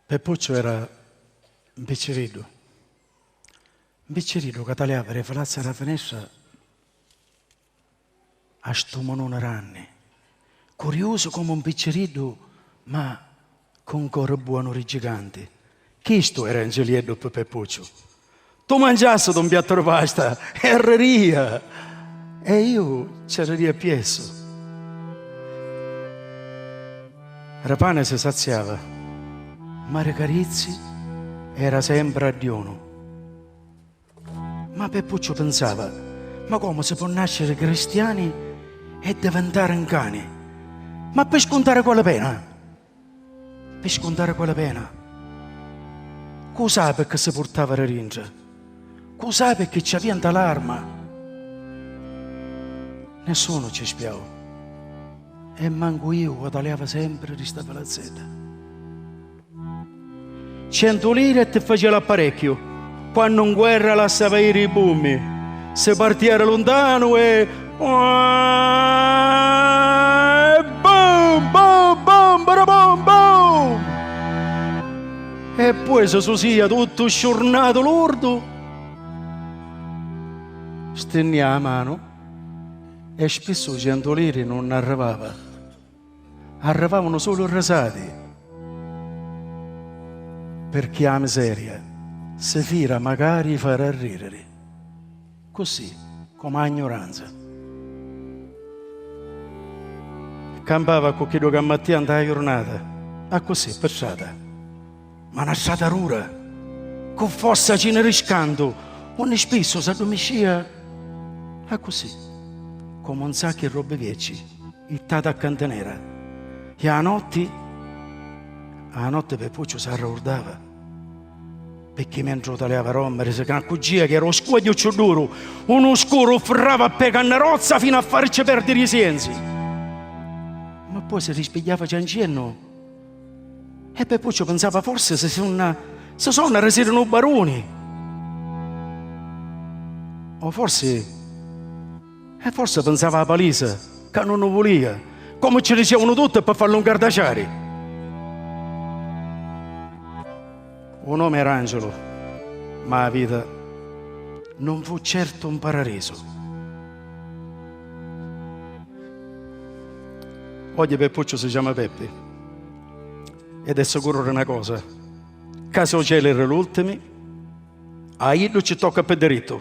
Peppucciu era 'n picciriddu. 'n picciriddu ca taliava ri falazza ra finestra a stu mununi ranni. Curiusu comu 'n picciriddu ma cu 'n cori buonu ri giganti. Chistu era 'n gilieddu pi Peppucciu. Tu mangiassitu un piattu di pasta e arriria e iu ci arriria appiessu. Ra pani si saziava, ma ri carizzi era sempri a diunu. Ma Peppucciu pinsava, ma comu si po' nasciri cristiani e divintari 'n cani? Ma pi scuntari quali pena? Pi scuntari quella pena. Cu sai pecchè si purtava di dintra. Cu sai pecchè ci avia nta l'arma. Nessunu ci spiau. E mancu iu guadaliava sempri di sta palazzedda. Centu liri e ti facia l'apparecchiu. Quannu 'n guerra lassava iri i bummi, si partia di luntanu e. E bum, bum, bum, barabum, bum! E poi si susìa tuttu sciurnatu lurdu, stinnia a manu e spissu centu liri nun arrivava. Arrivavanu sulu risati pirchì 'a miseria si fira macari 'i fari arririri ccussì comu 'a 'gnuranza. Campava ccu chiddu ca mattia 'nta 'a jurnata, accussì, pi strata. Ma na strata dura, cu fossa cina di scantu, unni spissu s'addumiscia accussì, comu un saccu di robbi viecci, jittati a cantinera. E a la notti? A la notti Pepucciu s'arraurdava, picchì mentri utaliava rommi, risi ca accuggia chi era u scuogliu cciù duru, unu scuru u frrava a pè cannerozza finu a faricci perdiri i sienzi. Ma poi si rispigghiava cianciennu. E Peppucciu pinsava, Forsi si sunna, si sonna risiru nu baruni! O forsi, e forsi pinsava a Palisa ca nun nu vulia, comu ci dicevanu tutti, pi fallu ngardaciari! U nomi era Angelu, ma a vita non fu certu 'n pararisu. Ogghi Peppucciu si chiama Peppi ed è sicuru di 'na cosa, ca si u celi ri l'ultimi, a iddu ci tocca pi dirittu.